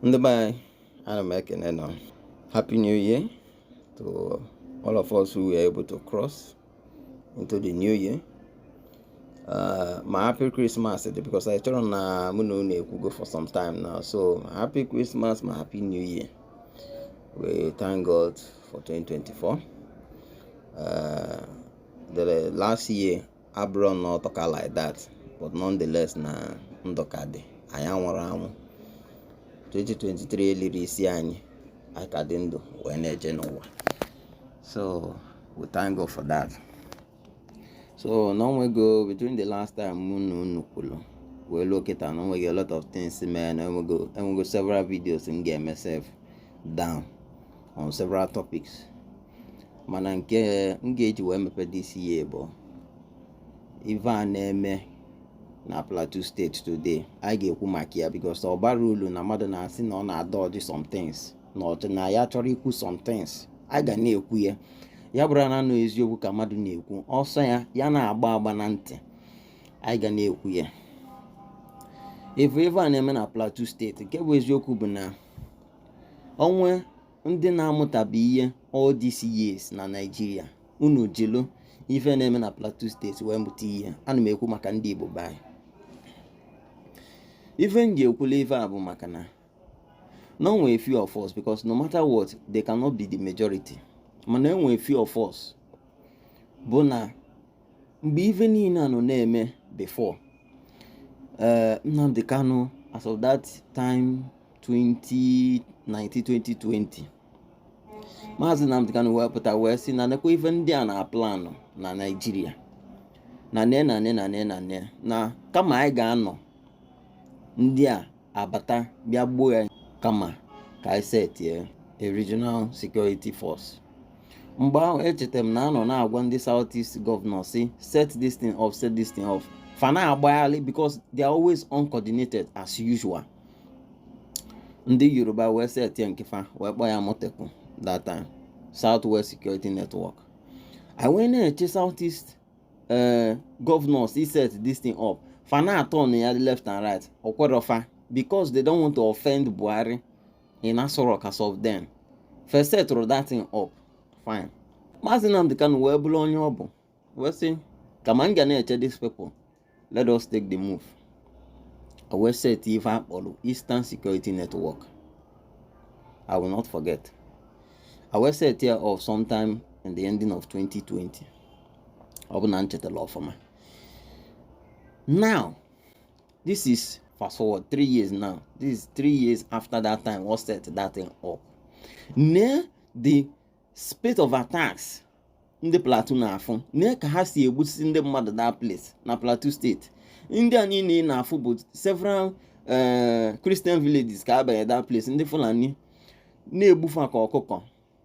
ndị be anyị ana m ekene nọ happy new year to all of us who were able to cross into the new year uh, ma happy christmas dị because I chọrọ na mụ na unu ekwugo for some time now so happy christmas ma happy new year we thank God for 2024 uh, the last year abụrụ na ọtọka like that but nonetheless na ndụ ka dị anyị anwụrọ anwụ 2023 elirọ isi anyị anyị ka dị ndụ wee na-eje n'ụwa so we thank God for that so na onwego between the last time mụ na unu kwulu wee luo kịta na onwego a lot of things mee na enwego several videos m ga-eme sef down on several topics mana nke m ga-eji wee mepe this year bụ ive a na-eme na plateau steeti today anyị ga-ekwu maka ya because ọ barọ ulu na mmadụ na-asị na ọ na-adodge somethings na ọ sị na ya achọrọ ikwu somethings anyị ga na-ekwu ya ya bụrụ naanị eziokwu ka mmadụ na-ekwu ọ sọ ya ya na-agba agba na ntị anyị ga na-ekwu ya ị vụ ive a na-eme na plateau steeti nke bụ eziokwu bụ na onwe ndị na-amụtabe ihe all these years na Naịjirịa unu jilu ife na-eme na Plateau steeti wee mụta ihe ana m ekwu maka ndị Igbo be anyị ife m ji ekwula ife a bụ maka na na onwe few of us because no matter what they cannot be the majority mana onwe few of us bụ na mgbe ife niile a nọ na-eme before eh, Nnamdi Kanu as of that time 2019 2020 maazị Nnamdi Kanu wee pụta wee sị na nekwa ife ndị a na-aplanụ na Naịjirịa na ne na ne na ne na ne na kama anyị ga-anọ ndị a abata bịa gbuo anyị kama ka anyị setie a regional security force mgbe ahụ echetara m na anọ na-agwa ndị South East gọvanọ sị set this thing up set this thing up fa na-agbagharị because they are always uncoordinated as usual ndị yoruba wee setie nke fa wee kpọọ ya amotekun that time south west security network e wee na-eche south east eh, governors iset this thing up fa na-atọn ya left and right o kwerọ fa because they don't want to offend buhari in aso rock as of then fa esetịrọ that thing up fine maazị nnamdị kanu wee bụlụ onye ọ bụ wee sị kama m ga na-eche these people let us take the move wee set ife a kpọrọ Eastern Security Network I will not forget e wee set ya up sometime in the ending of 2020 ọ bụ na m chetara ọfụma now this is fast forward three years now this is three years after that time we set that thing up na the spate of attacks ndị plateau na-afụ nee ka ha si egbusisi ndị mmadụ that place na plateau state ndị a niile na-afụ bụ several eh, christian villages ka abanye that place ndị fulani na-egbu fa ka ọkụkọ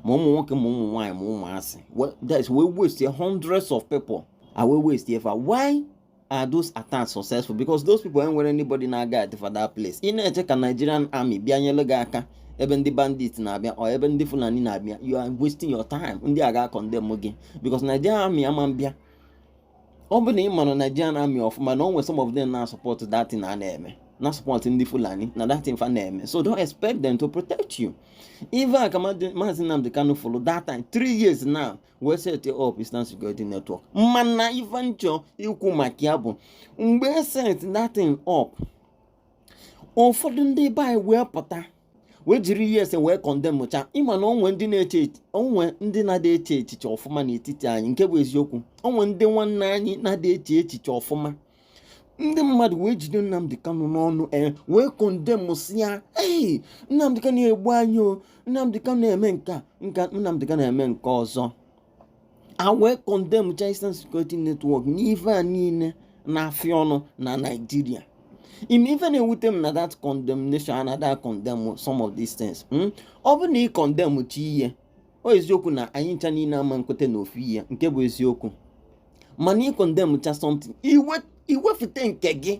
ma ụmụ nwoke ma ụmụ nwaanyị ma ụmụazị that is a wee waste hundreds of people a wee waste fa why are those attacks successful because those people enwere anybody na-aguard fa that place ị na-eche ka Nigerian army bịa nyere gị aka ebe ndị bandit na-abịa or ebe ndị Fulani na-abịa you are wasting your time ndị a ga-akọndemn gị because Nigerian army ama mbịa ọ bụ na ị mara Nigerian army ọfụma na o nwere some of them na support that thing a na-eme na support ndị Fulani na that thing fa na-eme so don't expect them to protect you ife ka Maazị Nnamdi Kanu fụrụ that time three years now wee set up Eastern Security Network mana ife m chọ ikwu maka ya bụ mgbe e set that thing up ụfọdụ ndị be anyị wee pụta wee jiri ESN wee condemncha ị ma na o nwee ndị na-eche o nwee ndị na-adị eche echiche ọfụma n'etiti anyị nke bụ eziokwu o nwee ndị nwanne anyị na-adị eche echiche ọfụma ndị mmadụ wee jide Nnamdi Kanu n'ọnụ e wee condemnsịa ya ee Nnamdi Kanu egbu anyị o Nnamdi Kanu eme nke a Nnamdi Kanu eme nke ọzọ a wee condemncha Eastern Security Network n'ife a niile na-afịa ọnụ na Naịjirịa ị ma ife na-ewute m na that condemnation a na-acondemn some of these things hmm? ọ bụ na ị condemncha ihe ọ eziokwu na anyị ncha niile ama nkweta na ofu ihe nke bụ eziokwu mana ị condemncha something i wepụta nke gị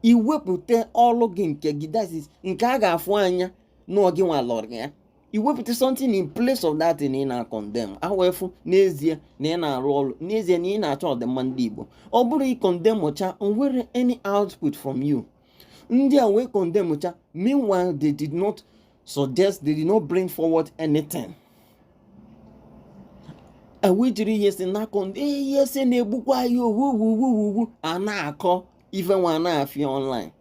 i wepụta ọlụ gị nke gị that is nke a ga-afụ anya na ọ gịnwa lụrụ ya i wepụta something in place of that na ị na-acondemn a wee fụ n'ezie na ị na-arụ ọrụ n'ezie na ị na-achọ ọdịmma ndị Igbo ọ bụrụ ị condemncha nwere any output from you ndị a wee condemncha meanwhile they did not suggest they did not bring forward anything. e wee jiri ESN na-akọ ndị ESN na-egbukwa anyị o wuwuwuwu a na-akọ ife nwa na-afịa online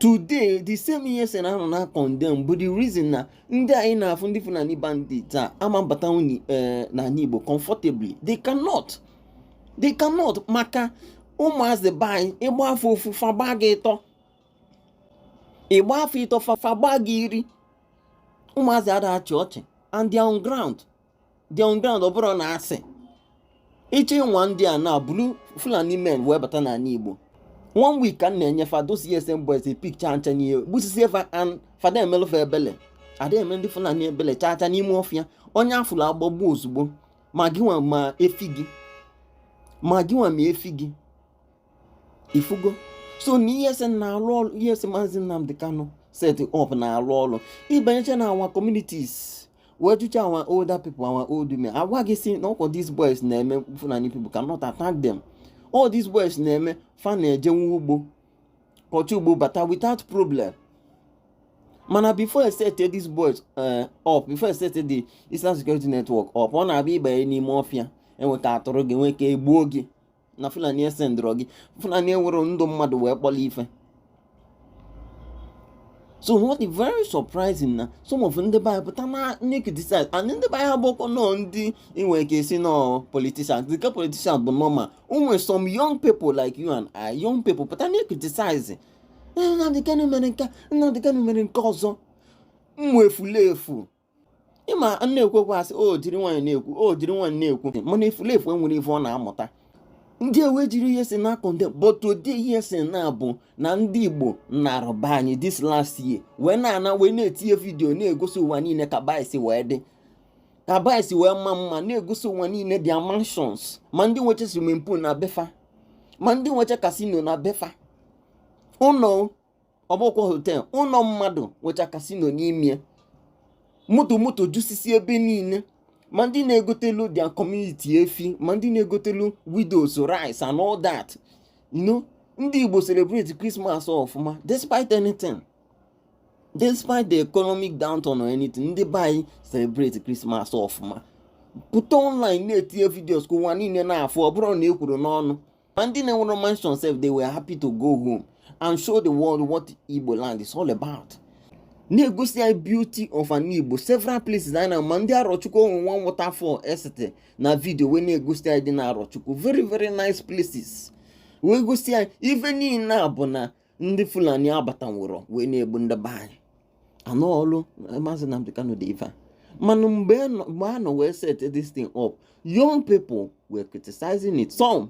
today the same ESN a nọ na-acondemn bụ the reason na ndị anyị na-afụ ndị Fulani bandit a ama mbatanwu eh, n'ana Igbo comfortably they cannot they cannot maka ụmụazị be anyị ị gba fa ofu fa gbaa gị ịtọ ị gba fa ịtọ fa gbaa gị iri ụmụazị ada achị ọchị and they are on ground they on ground ọ bụrụ na a sị ịchọ ịnwa ndị a na bulu fulani men wee bata n'ana igbo one week ka m na-enye fa those ESN boys pikcha ncha niile gbusisie fa and fa ada emelụ fa ebele ada eme ndị fulani ebele chaa chaa n'ime ọfịa onye a fụlụ a gbagbuo ozugbo ma gịnwa ma efi gị ma gịnwa ma efi gị ị fụgo so na ESN na-alụ ọlụ ESN maazị Nnamdi Kanu set up na-alụ ọlụ ị banyecha na our communities wee jụcha our older people our old men agwa gị sị na ọ kwa these boys na-eme Fulani people cannot attack them all these boys na-eme fa na-ejenwu ugbo kọcha ugbo bata without problem mana before e sete these boys eh, up before e sete the Eastern Security Network up ọ na-abụ ị banye n'ime ọfịa e nwee ka a tọrọ gị nwee ka e gbuo gị na Fulani esendịrọ gị Fulani ewerọ ndụ mmadụ wee kpọrọ ife so what is very surprising na some of ndị be anyị pụta na criticize and ndị be anyị a bụkwanụ ndị i nwere ike sị na ọ politician dịka politician bụ normal ụmụ some young people like you and I young people pụta na criticize Nnamdi Kanu mere nke Nnamdi Kanu mere nke ọzọ ụmụ efulefu ị ma na-ekwu okwu a sị o jiri nwayọ na-ekwu o jiri nwayọ na-ekwu mana efulefu enwerọ ife ọ na-amụta ndị ewe jiri ESN na-akọ ndị but ụdị ESN na-abụ na ndị Igbo na-arụba anyị this last year wee na-ana wee na-etinye vidiyo na-egosi ụwa niile ka be anyị si wee dị ka be anyị si wee maa mma na-egosi ụwa niile their mansions ma ndị nwecha swimming pool na be fa ma ndị nwecha casino na be fa ụlọ ọ bụkwa hotel ụnọ mmadụ nwecha casino n'ime moto moto jusisi ebe niile ma ndị na-egotelu their community efi ma ndị na-egotelu widows rice and all that you know ndị Igbo celebrate Christmas ọfụma despite anything despite the economic downturn or anything ndị be anyị celebrate Christmas ọfụma pụta online na-etinye videos ka ụwa niile na-afụ ọ bụrọ na e kwuru n'ọnụ ma ndị na-enwerọ mansion sef they were happy to go home and show the world what Igbo land is all about na-egosi anyị beauty of ana Igbo several places anyị na ma ndị Arọchukwu o nwe one waterfall e sete na video wee na-egosi anyị dị na Arọchukwu very very nice places wee gosi anyị ife niile a bụ na ndị Fulani abatanwurọ wee na-egbu ndị be anyị na ọ ọlụ eh, maazị Nnamdi Kanu dị ife a mana mgbe a nọ wee set this thing up young people were criticizing it some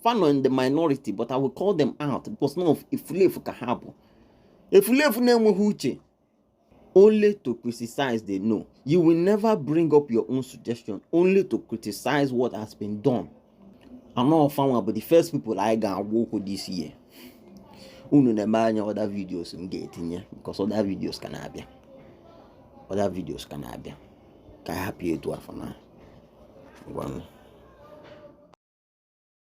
fa nọ in the minority but I will call them out because ụmụ efulefu ka ha bụ efulefu na-enweghị uche only to criticize they know you will never bring up your own suggestion only to criticize what has been done na ọ fa nwa bụ the first people anyị ga-agwa okwu this year unu na-ene anya other videos m ga-etinye because other videos ka na-abịa other videos ka na-abịa ka anyị hapụ ya etu afụ na ngwanụ